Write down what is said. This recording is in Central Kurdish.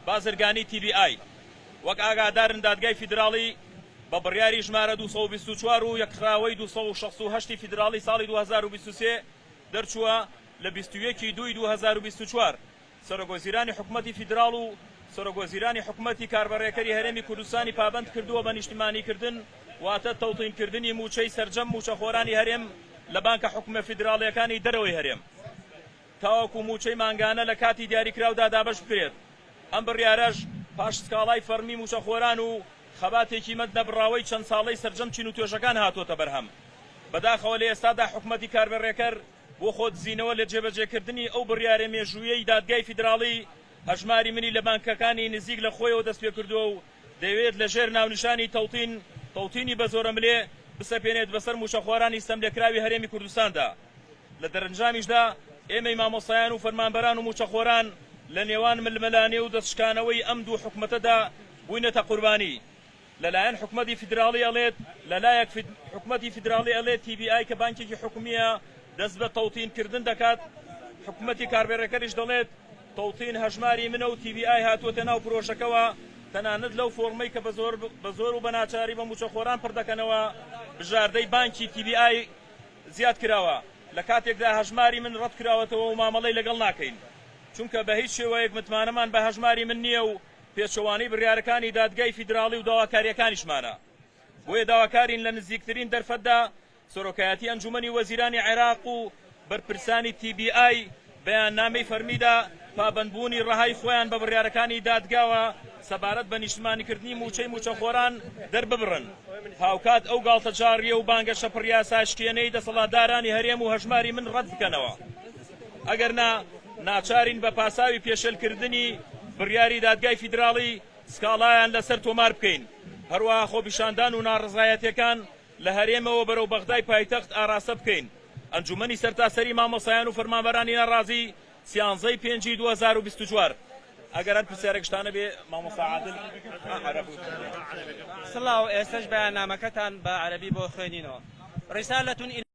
بازرگانی تی بی ئای وەک ئاگادارن دادگای فیدراڵی بە بڕیاری ژمارە دوو سەد و بیست و چوار و یەک خراوەی دوو سەد و شەست و هەشت ی فیدراڵی ساڵی دوو هەزار و بیست و سێ دەرچووە لە بیست و یەک ی دووی دوو هەزار و بیست و چوار سەرۆکوەزیرانی حکومەتی فیدراڵ و سەرۆکوەزیرانی حکومەتی کاربەڕێکەری هەرێمی کوردستانی پابەند کردووە بە نیشتمانیکردن واتە تەوتینکردنی مووچەی سەرجەم مووچەخۆرانی هەرێم لە بانکە حکومە فیدراڵییەکانی دەرەوەی هەرێم. تاوەکو مووچەی مانگانە لە کاتی دیاریکراودا دابەش بکرێت، ئەم بڕیارەش پاش سکاڵای فەڕمی مووچەخۆران و خەباتێکی مەند نەبڕاوەی چەند ساڵەی سەرجەم چین و توێژەکان هاتووەتە بەرهەم. بەداخەوە لە ئێستادا حکومەتی کاربەڕێکەر بۆ خۆدزینەوە لە جێبەجێکردنی ئەو بڕیارە مێژووییەی دادگای فیدراڵی، هەژماری منی لە بانکەکانی نزیک لە خۆیەوە دەستپێکردووە و دەیەوێت لە ژێر ناونیشانی تەوتین، تەوتینی بە زۆرەملێ، بسەپێنێت بەسەر مووچەخۆرانی ستەملێکراوی هەرێمی کوردستاندا. لە دەرەنجامیشدا ئێمەی مامۆستایان و فەرمانبەران و مووچەخۆران لە نێوان ململانێ و دەستشکانەوەی ئەم دوو حکومەتەدا بووینەتە قوربانی. لەلایەن حکومەتی فیدراڵی ئەڵێت لەلایەک حکومەتی فیدراڵی ئەڵێت تی بی ئای کە بانکێکی حکومییە دەست بە تەوتین کردن دەکات، حکومەتی کاربێڕێکەریش دەڵێت، توطین هەژماری منە و TBI هاتووەتە ناو پرۆژەکەوە، تەنانەت لەو فۆڕمەی کە بە زۆر و بە ناچاری بە مووچەخۆران پڕ دەکەنەوە، بژاردەی بانکی TBI زیاد کراوە، لە کاتێکدا هەژماری من ڕەت کراوەتەوە و مامەڵەی لەگەڵ ناکەین، چونکە بە هیچ شێوەیەک متمانەمان بە هەژماری من نییە و پێچەوانەی بڕیارەکانی دادگای فیدراڵی و داواکارییەکانیشمانە، بۆیە داواکارین لە نزیکترین دەرفەتدا سەرۆکایەتی ئەنجوومەنی وەزیرانی عێراق و بەرپرسانی تی بی ئای بەیاننامەی فەرمیدا پابەندبوونی ڕەهای خۆیان بە بڕیارەکانی دادگاوە سەبارەت بە نیشتمانیکردنی مووچەی مووچەخۆران دەرببڕن، هاوکات ئەو گاڵتەجاڕیی و بانگەشە پڕیاساشکێنەی دەسەڵاتدارانی هەرێم و هەژماری من ڕەتبکەنەوە، ئەگەرنا ناچارین بە پاساوی پێشێلکردنی بڕیاری دادگای فیدراڵی سکاڵایان لەسەر تۆماربکەین، هەروەها خۆپیشاندان و ناڕەزایەتییەکان لە هەرێمەوە بەرەو بەغدای پایتەخت ئاراستە بکەین. ئەنجوومەنی سەرتاسەریی مامۆستایان و فەرمانبەرانی ناڕازی، سیانزە ی پێنجی دوو هەزار و بیست و چوار. ئەگەر هەر پرسیارێک شتانە بێ مامۆستا عادل. سڵاو، ئێستەش بەیاننامەکەتان بە عەرەبی بۆ خوێنینەوە. رسالە.